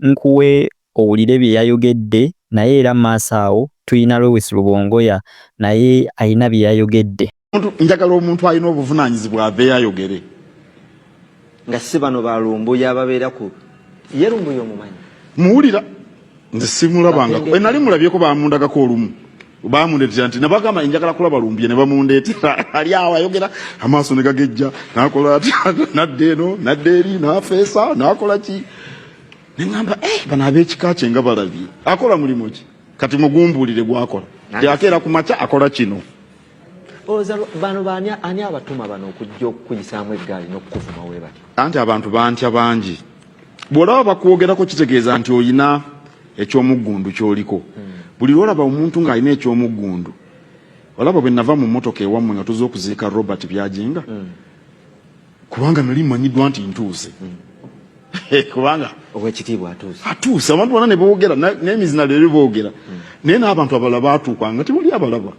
nkuwe owulire byeyayogedde naye era maaso awo tuyina Lewis Lubongoya naye ayina byeyayogedde. Njagala omuntu ayina obuvunanyizibwa aveyo ayogere. Nga sibano ba lumbuye ababera ku ye lumbuye omumanyi. Muwulira nze simulabangako bwenali mulabyeko bamundagako olumu. bamundeetera nti nabagamba njagala kulaba lumbye ne bamundeetera ali awo ayogera amaaso ne gagejja nakola atya nadda eno nadda eri nafeesa nakola ki ne ŋamba eh, bano ab'ekika kye nga balabye akola mulimu ki kati mugumbuulire gwakola nti akeera ku makya akola kino oza bano bani ani abatuma bano okujja okukuyisaamu eggaali n'okukuvuma we bati anti abantu bantya bangi bw'olaba bakwogerako kitegeeza nti oyina eky'omuggundu ky'oliko buli lw'olaba omuntu ng'alina eky'omuggundu olaba bwe nava mu mmotoka ewammwe nga tuze okuziika robert byajenga mm. kubanga nali mmanyiddwa nti ntuuse mm. kubanga owekitiibwa atuuse atuuse abantu bona ne boogera n'emizina leero boogera mm. naye n'abantu abalala baatuukanga tewali abalaba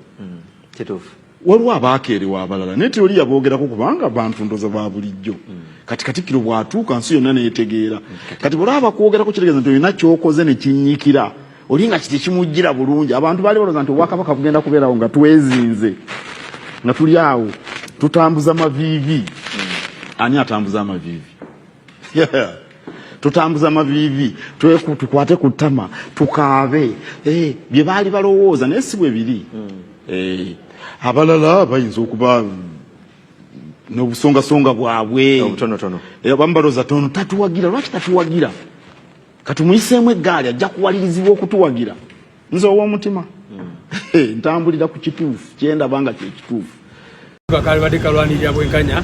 kituufu waliwo abaakeerewa abalala naye tewali yaboogerako kubanga bantu ndoza ba bulijjo kati katikkiro bw'atuuka nsi yonna neetegeera kati bwolaba bakwogerako kitegeeza nti olina kyokoze ne kinnyikira oli nga kiti kimujjira bulungi abantu baali balooza nti obwakabaka bugenda kubeerawo nga twezinze nga tuli awo tutambuza maviivi ani atambuza amaviivi yeah. tutambuza mavivi tukwate ku ttama tukaabe eh, bye baali balowooza naye si bwe biri hmm. eh, abalala bayinza okuba n'obusongasonga bwabwe eh, abamu balowooza tono tatuwagira lwaki tatuwagira katumuyiseemu eggaali ajja kuwalirizibwa okutuwagira nze owomutima hmm. ntambulira ku kituufu kyendaba nga kyekituufu kalibadde kalwanirira bwenkanya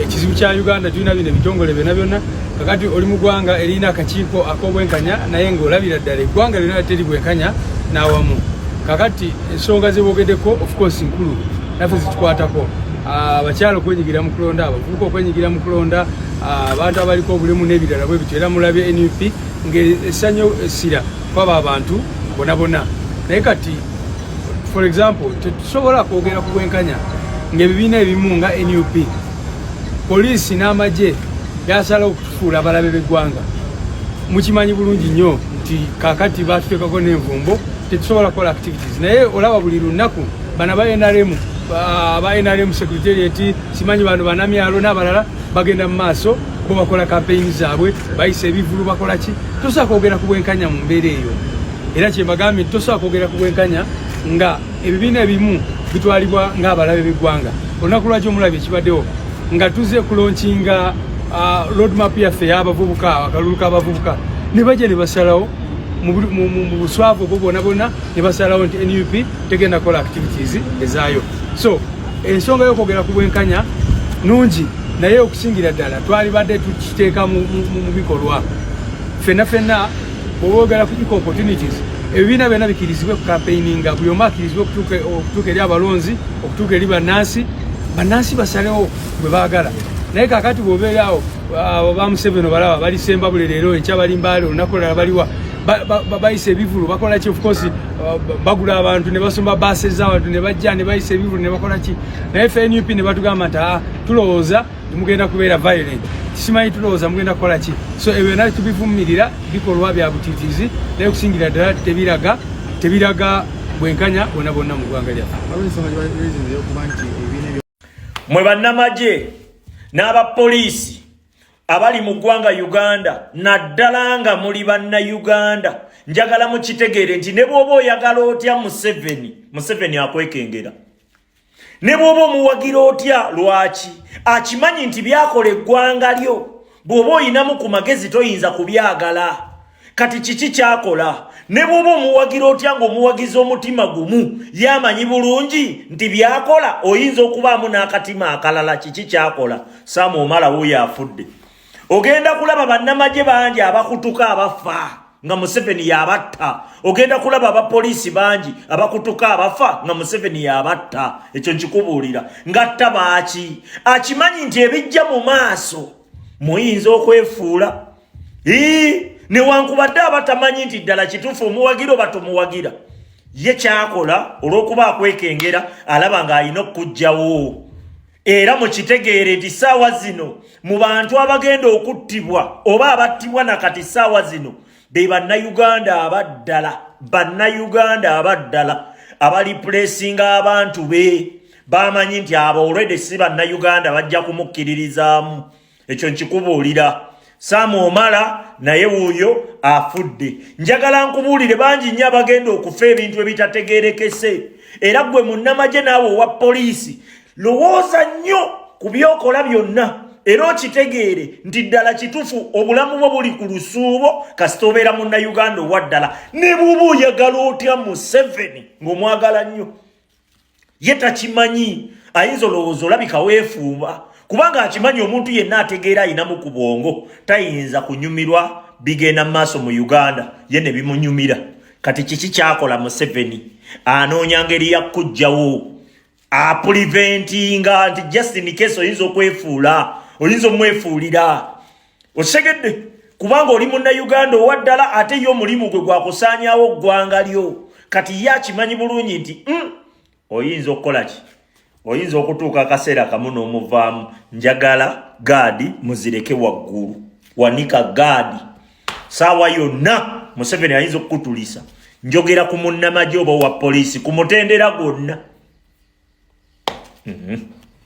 ekizibu kya uganda tulina bino ebitongole byona byona kakati oli mu gwanga erina akakiiko akobwenkanya naye ngaolabira ddala eggwanga lyona teri bwenkanya nawamu kakati ensonga zebogedeko ofcourse nkulu nafe zitukwatako ah, abakyala okwenyigira mu kulonda abavubuka okwenyigira mu kulonda ah, abantu abaliko obulemu n'ebirala bwe bityo era mulabye nup ngaesanyo essira kwaba abantu bona bona naye kati for example tetusobola kwogera ku bwenkanya ngaebibiina ebimu nga nup poliisi n'amagye byasalawo okutufuula abalabe b'eggwanga mukimanyi bulungi nnyo nti kakati batuteekako n'envumbo tetusobola kukola activities naye olaba buli lunaku bana ba nrm aba nrm secretariat simanyi bano banamyalo n'abalala bagenda mu maaso bo bakola kampeyini zaabwe bayisa ebivulu bakola ki tosobola kwogera ku bwenkanya mu mbeera eyo era kyembagambye nti tosobola kwogera ku bwenkanya nga ebibiina ebimu bitwalibwa ng'abalabe b'eggwanga olunaku lwaki omulabye ekibaddewo nga tuze kulonkinga uh, roadmap yaffe y'abavubuka akalulu k'abavubuka ne bajja ne basalawo mu buswavu obwo bwona bwona ne basalawo nti nup tegenda kukola activities ezaayo so ensonga yokwogera ku bwenkanya nungi naye okusingira ddala twalibadde tukiteeka mu bikolwa fenna fenna bwoboogera ku eco opportunities ebibiina byonna bikirizibwe ku kampeininga buli omu akirizibwe okutuuka eri abalonzi okutuuka eri bannansi bannansi basalewo bwe baagala naye kakati bwobeeraawo ba museveni obalaba balisemba buli leero enkya balimbaale olunaku olala baliwa bayisa ebivulu bakola ki ofcourse uh, bagula abantu ne basomba baase z'abantu ne bajja ne bayisa ebivulu ne bakola ki naye fe nup ne batugamba nti ah, tulowooza mugenda kubeera violent simanyi tulowooza mugenda kukola ki so ebyo byona tubivumirira bikolwa bya butitizi naye okusingira ddala tebiraga tebiraga bwenkanya bona bonna mu ggwanga lyaffe mwe bannamagye n'abapoliisi abali mu ggwanga uganda naddala nga muli banna uganda njagala mukitegeere nti ne bwoba oyagala otya museveni museveni akwekengera ne bwoba omuwagira otya lwaki akimanyi nti byakola eggwanga lyo bw'oba oyinamu ku magezi toyinza kubyagala kati kiki kyakola ne bwoba omuwagira otya nga omuwagiza omutima gumu yamanyi bulungi nti byakola oyinza okubaamu n'akatima akalala kiki kyakola samu omala wuyo afudde ogenda kulaba bannamagye bangi abakutuka abafa nga museveni yabatta ogenda kulaba abapoliisi bangi abakutuka abafa nga museveni yabatta ekyo nkikubuulira ngatta baaki akimanyi nti ebijja mu maaso muyinza okwefuula Hii, ne wankubadde abatamanyi nti ddala kitufu omuwagira oba tomuwagira ye kyakola olw'okuba akwekengera alaba ng'alina okukugjawo era mukitegeere nti saawa zino mu bantu abagenda okuttibwa oba abattibwa nakati saawa zino be bannayuganda abaddala bannayuganda abaddala abalipulesinga abantu be bamanyi nti abo olwede si bannayuganda bajja kumukkiririzaamu ekyo nkikubuulira saamu omala naye wuuyo afudde njagala nkubuulire bangi nnyo abagenda okufa ebintu ebitategeerekese era gwe munnamagye naawe owa poliisi lowooza nnyo ku byokola byonna era okitegeere nti ddala kitufu obulamu bwo buli ku lusuubo kasita obeera munnayuganda owa ddala ne buuba oyagala otya museveni ng'omwagala nnyo ye takimanyi ayinza olowooza olabika weefuuba kubanga akimanyi omuntu yenna ategeera ayinamu ku bwongo tayinza kunyumirwa bigenda mu maaso mu uganda ye ne bimunyumira kati kiki kyakola museveni anoonya ngeri ya kujjawo apuliventinga nti justin case oyinza okwefuula oyinza omwefuulira osegedde kubanga oli munna uganda owa ddala ate ye omulimu gwe gwakusaanyawo ggwanga lyo kati ye akimanyi bulungi nti mm, oyinza okukola ki oyinza okutuuka akaseera kamu n'omuvaamu njagala gaadi muzireke waggulu wanika gaadi saawa yonna museveni ayinza okukutulisa njogera ku munnamagye oba owa poliisi ku mutendera gwonna mm -hmm.